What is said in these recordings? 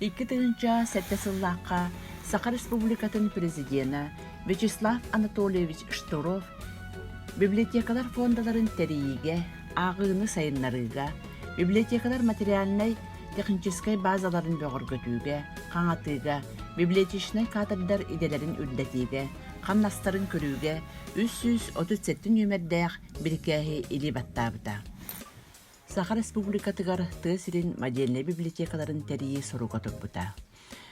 Икки тыһыынча сэттэ сыллаахха Саха Республикатын Президенэ Вячеслав Анатольевич Штуров библиотекалар фондаларын тэрийиигэ, ааҕыыны сайыннарыыга, библиотекалар материальнай-техническэй базаларын бөҕөргөтүүгэ, хаҥатыыга, библиотечнай кадрдар идэлэрин үрдэтиигэ, хамнастарын көрүүгэ үс сүүс отут сэттэ нүөмэрдээх бирикээһи илии баттаабыта. Саха Республикатыгар тыа сирин модельнай библиотекаларын тэрийии соруга турбута.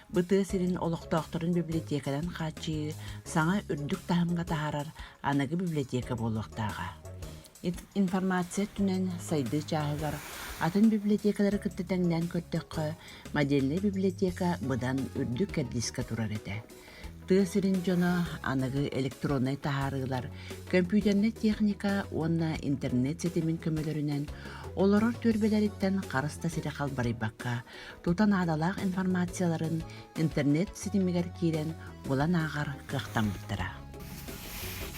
Бу тыа сирин олохтоохторун библиотеканан хааччыйыы саҥа үрдүк таһымҥа таһаарар аныгы библиотека буолуохтааҕа. Информация өттүнэн сайдыы чааһыгар атын библиотекалары кытта тэҥнээн көрдөххө, модельнай библиотека быдан үрдүк кэрдиискэ турар этэ. тыа сирин дьоно аныгы электроннай таһаарыылар, көмпүүтэрнэй техника уонна интернет ситимин көмөлөрүнэн олорор түөлбэлэриттэн харыста сири халбарыйбакка, тута наадалаах информацияларын интернет ситимигэр киирэн булан ааҕар кыахтаммыттара.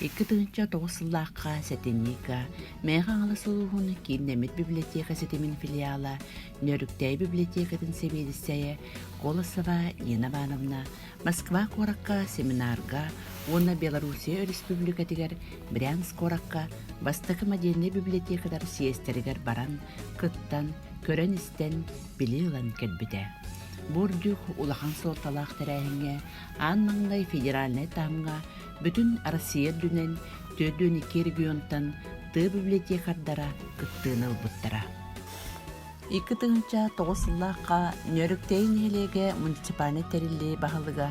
Икки тыһынча тоҕус сыллаахха сэтинньика Мэйэ Хаҥалас улууһун киин нэмит библиотека ситимин филиала Нөрүктэй библиотекатын сэбиэдиссэйэ Колосова Нина Ивановна Москва куоракка семинарга уонна Белоруссия Өрөспүүбүлүкэтигэр Брянск куоракка бастакы модельнай библиотекалар съезтэригэр баран, кыттан, көрөн-истэн, билии ылан кэлбитэ. Бурдюк улахан суолталаах тэрээһиҥҥэ аан маҥнай федеральнай таһымҥа бүтүн Россия үрдүнэн төрдүөн икки регионтан тыа библиотекардара кыттыыны ылбыттара. Икки тыһыынча тоҕус сыллаахха Нөрүктэйи нэһилиэгэ муниципальнай тэриллии баһылыга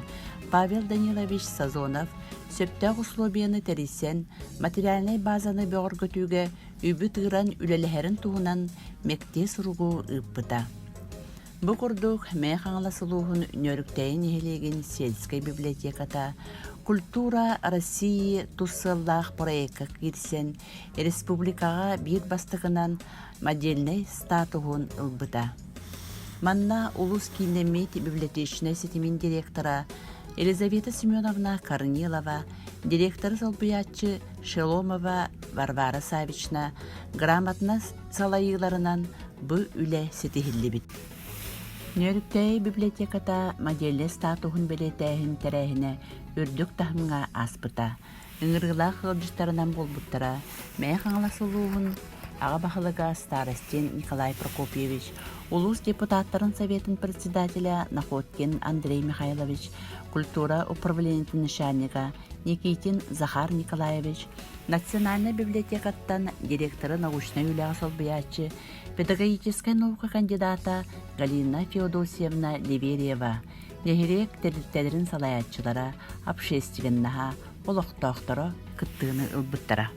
Павел Данилович Сазонов сөптөөх усулуобуйаны тэрийсэн, материальнай базаны бөҕөргөтүүгэ үбү тыыран үлэлэһэрин туһунан мэктиэ суругу ыыппыта. Бу курдук Мэйэ Хаҥалас улууһун Нөрүктэйи нэһилиэгин сельскэй библиотеката «Культура России» тус сыаллаах проекка киирсэн, республикаҕа биир бастакынан модельнай статуһун ылбыта. Манна улус кииннэммит библиотечнай ситимин директора Елизавета Семеновна Корнилова, директор солбуйааччы Шеломова Варвара Савична грамотнас салайыыларынан бу үлэ ситиһиллибит. Нөрүктәй библиотеката модельнай статуһун бэлиэтээһин тэрээһинэ үрдүк таһымга аспыта. Ыҥырыылаах ыалдьыттарынан буолбуттара Мэйэ Хаҥалас улууһун Аҕа баһылыга Старостин Николай Прокопьевич, улуус депутаттарын Советын председателя Находкин Андрей Михайлович, культура управлениетин начальнига Никитин Захар Николаевич, Национальнай библиотекаттан директоры научнай үлэҕэ солбуйааччы, педагогическай наука кандидата Галина Феодосьевна Ливерева, Нэһилиэк тэрилтэлэрин салайааччылара, общественноһа, олохтоохторо кыттыыны ылбыттара.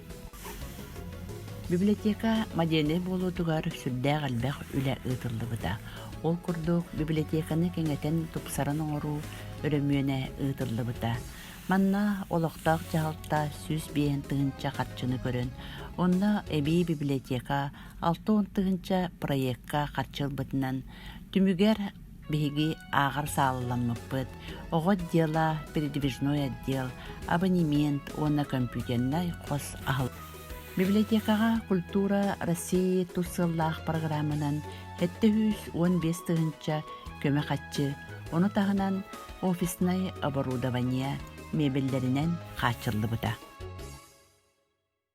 Библиотека модельнай буолуутугар сүрдээх элбэх үлэ ыытыллыбыта. Ол курдук, библиотеканы кэҥэтэн тупсаран оҥоруу өрөмүөнэ ыытыллыбыта. Манна олохтоох дьаһалта сүүс биэһин тыһыынча харчыны көрөн, онно эбии библиотека алта уон тыһыынча проекка харчы ылбытынан, түмүгэр Биһиги ааҕар саалаламмыппыт «Оҕо дела, передвижной отдел, абонемент уонна компьютернай хос аһыл». Библиотекаҕа «Культура России» тус сыллаах программанан 705 тыһыынча көмө хаччы, ону таһынан офиснай оборудование мебеллэринэн хааччыллыбыта.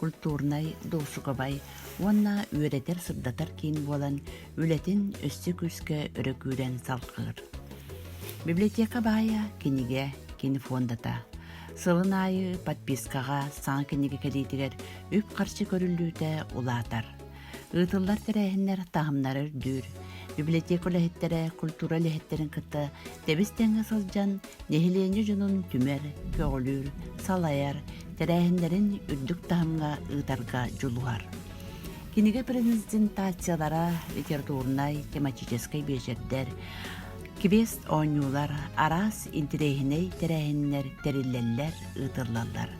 культурнай-дуушукабай уонна үөрэтэр-сырдатар киин буолан, үлэтин өссө күүскэ өрө күүрэн салҕыыр. Библиотека баайа кинигэ, кинофондата. Сылын аайы подпискаҕа саҥа кинигэ кэлиитигэр үп-харчы көрүллүүтэ улаатар. Ыытыллар тэрээһиннэр таһымнара үрдүүр. Библиотека үлэһиттэрэ культура үлэһиттэрин кытта тэбис-тэҥҥэ сылдьан, нэһилиэнньэ дьонун түмэр, көҕүлүүр, салайар, тэрээһиннэрин үрдүк таһымҥа ыытарга дьулуһар. Кинигэ презентациялара, литературнай, тематическай биэчэрдэр, квест оонньуулар, араас интириэһинэй тэрээһиннэр тэриллэллэр, ыытыллаллар.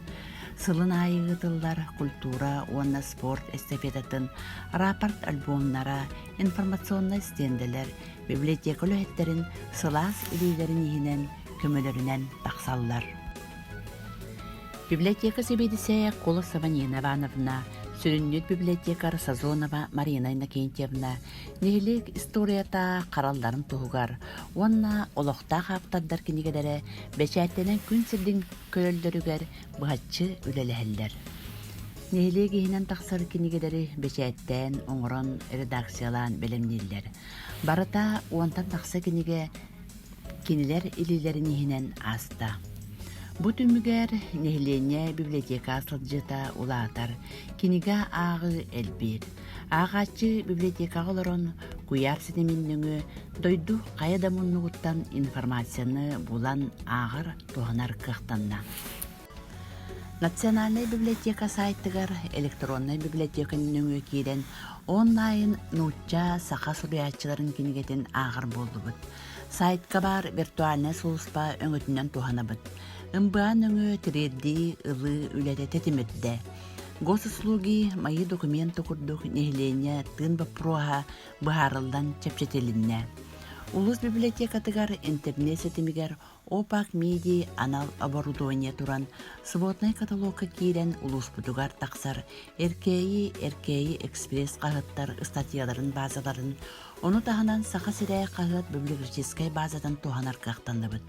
Сылын аайы ыытыллар культура уонна спорт эстафетатын рапорт-альбомнара, информационнай стендэлэр, библиотека үлэһиттэрин сылаас илиилэрин иһинэн көмөлөрүнэн тахсаллар. Библиотека сэбиэдиссэйэ Кула Саванина Ивановна, сүрүннүүт библиотекарь Сазонова Марина Иннокентьевна, нэһилиэк историята харалларын туһугар уонна олохтоох автордар кинигэлэрэ бэчээттэнэн күн сирдин көрөллөрүгэр быһаччы үлэлэһэллэр. Нэһилиэк иһинэн тахсар кинигэлэри бэчээттээн, оҥорон, редакциялаан бэлэмнииллэр. Барыта уонтан тахса кинигэ кинилэр илиилэрин иһинэн ааста. Бу түмүгэр нэһилиэнньэ библиотека сылдьыта улаатар, кинигэ ааҕыы элбиир. Ааҕааччы библиотекаҕа олорон куйаар ситимин нөҥүө дойду хайа да муннугуттан информацияны булан ааҕар туһанар кыахтанна. Национальнай библиотека сайтыгар электроннай библиотека нөҥүө киирэн онлайн нуучча саха суруйааччыларын кинигэтин ааҕар буоллубут. Сайтка баар виртуальнай сулуспа өҥөтүнэн туһанабыт. МБА нөҥүө тириэрдии ылыы үлэтэ тэтимирдэ. Госуслуги мои документы курдук нэһилиэнньэ тыын боппуруоһа быһаарыллан чэпчэтилиннэ. Улус библиотекатыгар интернет ситимигэр Опак Миди анал оборудование туран своднай каталогка киирэн улууспутугар тахсар Эркээйи Эркээйи экспресс хаһыттар ыстатыйаларын баазаларын, ону таһынан Саха сирэ хаһыат библиографическай баазатын туһанар кыахтанныбыт.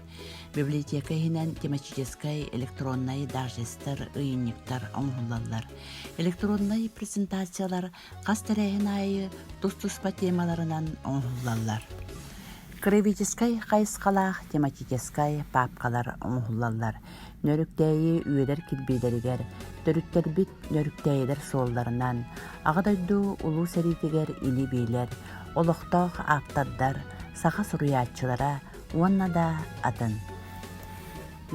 Библиотека иһинэн тематическай электроннай дажестер, ыйынньыктар оҥоһуллаллар. Электроннай презентациялар хас тэрээһин аайы тус-туспа темаларынан оҥоһуллаллар. Кровическай хайысхалаах тематическай папкалар оҥоһуллаллар. Нөрүктээйи үөдэр кирбиилэригэр, төрүттэрбит нөрүктээйилэр суолларынан, Аҕа дойду Улуу сэриитигэр илиибиилэр, олохтоох ааптардар, саха суруйааччылара уонна да атын.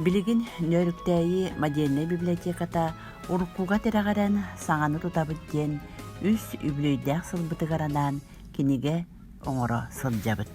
Билигин Нөөрүктээйи модельнай библиотеката уруккуга тирэҕирэн саҥаны тутабыт диэн үс үбүлүөйдээх сылбытыгар анаан кинигэ оҥоро сылдьабыт.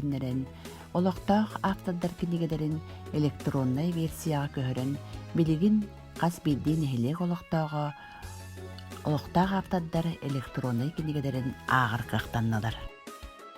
тэннэрэн, олохтоох автордар кинигэлэрин электроннай версияҕа көһөрөн, билигин хас биирдии нэһилиэк олохтооҕо олохтоох автордар электроннай кинигэлэрин ааҕар кыахтаннылар.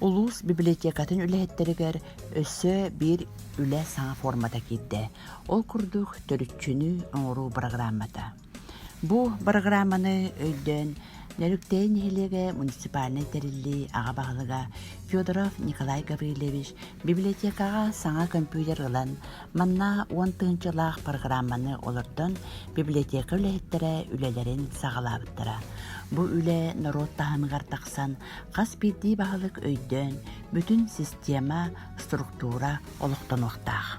Улуус библиотекатын үлэһиттэригэр өссө биир үлэ саҥа формата киирдэ. Ол курдук төрүччүнү оҥоруу бырагыраамата. Бу бырагырааманы өйдөөн Нөрүктэй нэһилиэгэ муниципальнай тэриллии аҕа баһылыга Федоров Николай Гаврильевич библиотекаҕа саҥа көмпүүтэр ылан, Манна уон тыһыынчалаах программаны олордон, библиотека үлэһиттэрэ үлэлэрин саҕалаабыттара. Бу үлэ норуот таһымыгар тахсан, хас биирдии баһылык өйдөөн, бүтүн система, структура олохтонуохтаах.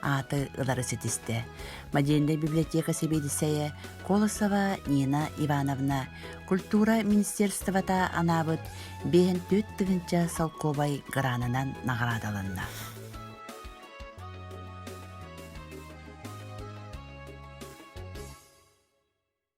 ааты ылары ситистэ. Модельная библиотека сэбиэдиссэйэ Колосова Нина Ивановна, культура министерствота анаабыт 54 тыһынча солкуобай гранынан наградаланна.